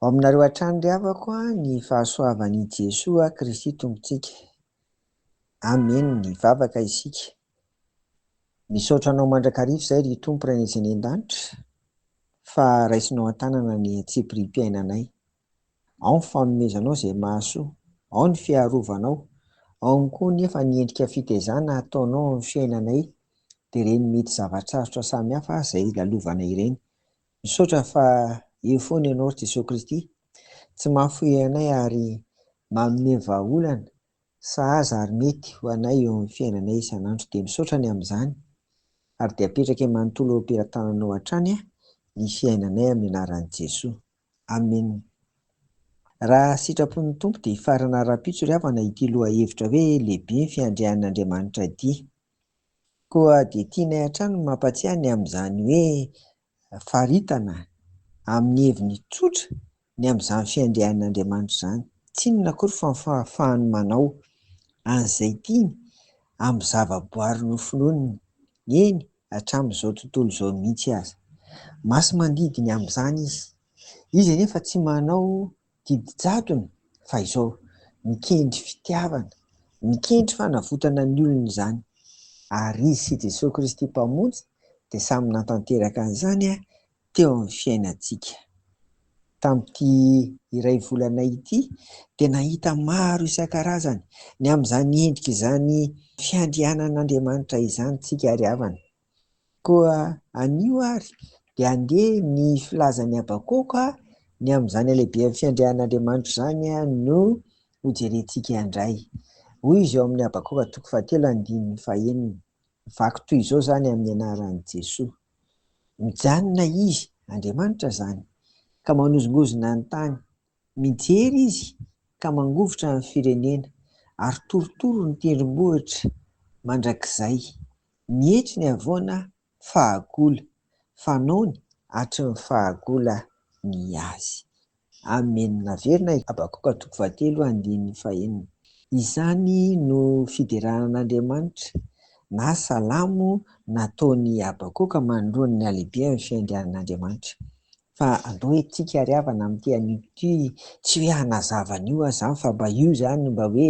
Ao aminareo hatrany ry havako ny fahasoavan' i Jesoa Kristy Tompontsika. Amen ny vavaka isika. Misaotra anao mandrakariva izay ry Tompo Rainay izay any an-danitra fa raisinao an-tanana ny antsipirihim-piainanay. Ao ny fanomezanao izay mahasoa, ao ny fiarovanao, ao ihany koa nefa ny endrika fitaizana ataonao amin'ny fiainanay dia ireny mety zava-tsarotra samihafa izay lalovana ireny. Misaotra fa eo foana Ianao ry Jesoa Kristy, tsy mahafoy anay ary manome vahaolana sahaza ary mety ho anay eo amin'ny fiainanay isan'andro dia misaotra ny amin'izany ary dia apetrake manontolo eo am-pelatananao hatrany ny fiainanay amin'ny anaran'i Jesoa. Amen. Raha sitrapon'ny Tompo dia hifarana ara-pitso ry havana ity lohahevitra hoe lehibe ny fiandrian'Andriamanitra ity. Koa dia tianay hatrany ny mampatsiahy ny amin'izany hoe faritana amin'ny heviny tsotra ny amin'izany fiandrian'Andriamanitra izany. Tsy inona akory fa ny fahafahany manao an'izay tiany amin'ny zavaboary nofinoininy, eny, hatramin'izao tontolo izao mihitsy aza. Masi-mandidy ny amin'izany izy. Izy anefa tsy manao didi-jadona fa izao, mikendry fitiavana, mikendry fanavotana ny olony izany. Ary izy sy Jesoa Kristy Mpamonjy dia samy nantanteraka an'izany teo amin'ny fiainantsika. Tamin'ity iray volana ity dia nahita maro isan-karazany ny amin'izany endrika izany fiandrianan'Andriamanitra izany isika ry havana. Koa anio ary dia andeha ny filazan'i Habakoka ny amin'izany halehiben'ny fiandrianan'Andriamanitra izany no hojerentsika indray. Hoy izy ao amin'ny Habakoka toko fahatelo andininy fahenina. Vaky toy izao izany amin'ny anaran'i Jesoa. Mijanona Izy, Andriamanitra izany, ka manozongozona ny tany. Mijery Izy ka mangovitra ny firenena, ary torotoro ny tendrombohitra mandrakizay. Mietry ny havoana fahagola. Fanaony hatry ny fahagola ny Azy. Amen Averina i Habakoka toko fahatelo andininy fahenina Izany no fideranan'Andriamanitra na salamo nataon'i Habakoka manoloana ny halehibehan'ny fiandrianan'Andriamanitra Fa andao itsika ary havana amin'ity anio ity tsy hoe hanazava an'io aho izany fa mba io izany mba hoe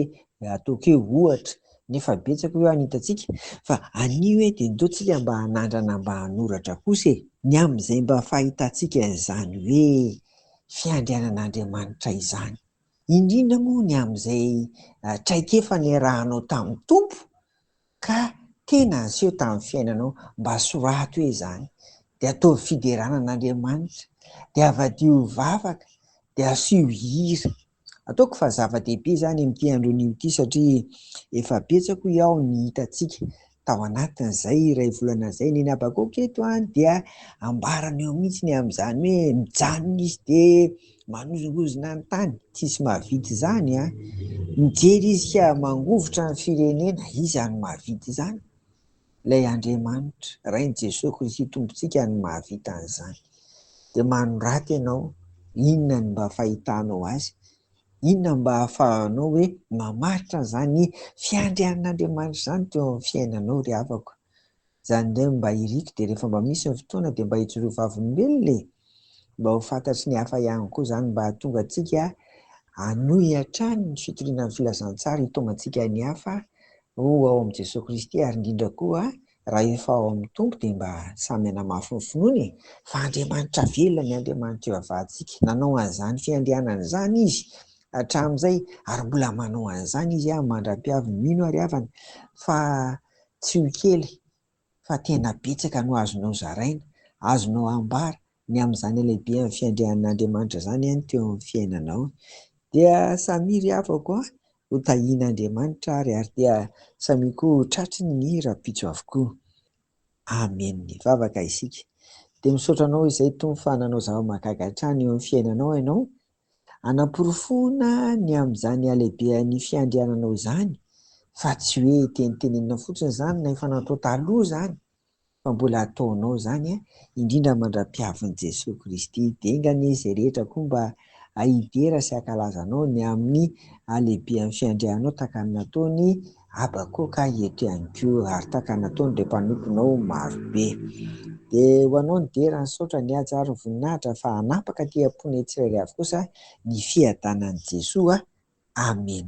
ataoko hoe ohatra Nefa betsaka ireo any hitantsika fa anio e dia ndao tsika mba hanandrana mba hanoratra kosa e! Ny amin'izay mba fahitantsika an'izany hoe fiandrianan'Andriamanitra izany, indrindra moa ny amin'izay traikefa niarahanao tamin'ny Tompo ka tena aseho tamin'ny fiainanao, mba soraty hoe izany, dia ataovy fiderana an'Andriamanitra, dia avadiovy vavaka, dia asio hira. Ataoko fa zava-dehibe izany amin'ity andronio ity satria efa betsaka hoy aho ny hitantsika tao anatin'izay iray volana izay. Neny Habakoky eto dia ambarany eo mihitsy ny amin'izany hoe mijanona izy dia manozongozona ny tany, tsisy mahavita izany. Mijery izy ka mangovitra ny firenena, iza no mahavita izany? Ilay Andriamanitra, Rain'i Jesoa Kristy Tompontsika no mahavita an'izany. Dia manorata ianao inona ny mba fahitanao Azy, inona ny mba ahafahanao hoe mamaritra an'izany fiandrianan'Andriamanitra izany teo amin'ny fiainanao ry havako. Izany indray no mba iriko dia rehefa mba misy ny fotoana dia mba hijoroa vavolombelona e! Mba ho fantatry ny hafa ihany koa izany mba hahatonga antsika hanohy hatrany ny fitoriana ny Filazantsara hitaomantsika ny hafa Ho ao amin'i Jesoa Kristy ary indrindra koa raha efa ao amin'ny Tompo dia mba samy hanamafy ny finoany e! Fa Andriamanitra velona ny Andriamanitra eo avadintsika. Nanao an'izany fiandrianana izany Izy hatramin'izay ary mbola manao an'izany Izy mandra-piavy ny mino ary havana fa tsy ho kely fa tena betsaka no azonao zaraina, azonao ambara, ny amin'izany halehibehan'ny fiandrianan'Andriamanitra izany any teo amin'ny fiainanao. Dia samia ry havako a, ho tahian'Andriamanitra ary, ary dia samia koa ho tratry ny rahampitso avokoa. Amen. Hivavaka isika. Dia misaotra Anao izay Tompo fa nanao zava-mahagaga hatrany eo amin'ny fiainanao Ianao, Hanaporofoana ny amin'izany halehibehan'ny fiandriananao izany fa tsy hoe tenitenenina fotsiny izany na efa natao taloha izany fa mbola ataonao izany indrindra mandra-piavin'i Jesoa Kristy dingana izy izay rehetra koa mba ahidera sy hankalaza anao ny amin'ny halehibehan'ny fiandriananao tahaka ny nataony Habakoka eto ihany koa ary taka nataony ireo mpanomponao maro be. Dia ho anao ny dera ny saotra ny haja ary ny voninahitra fa hanapaka aty amponay tsirairay avy kosa ny fiadanan'i Jesoa Amen.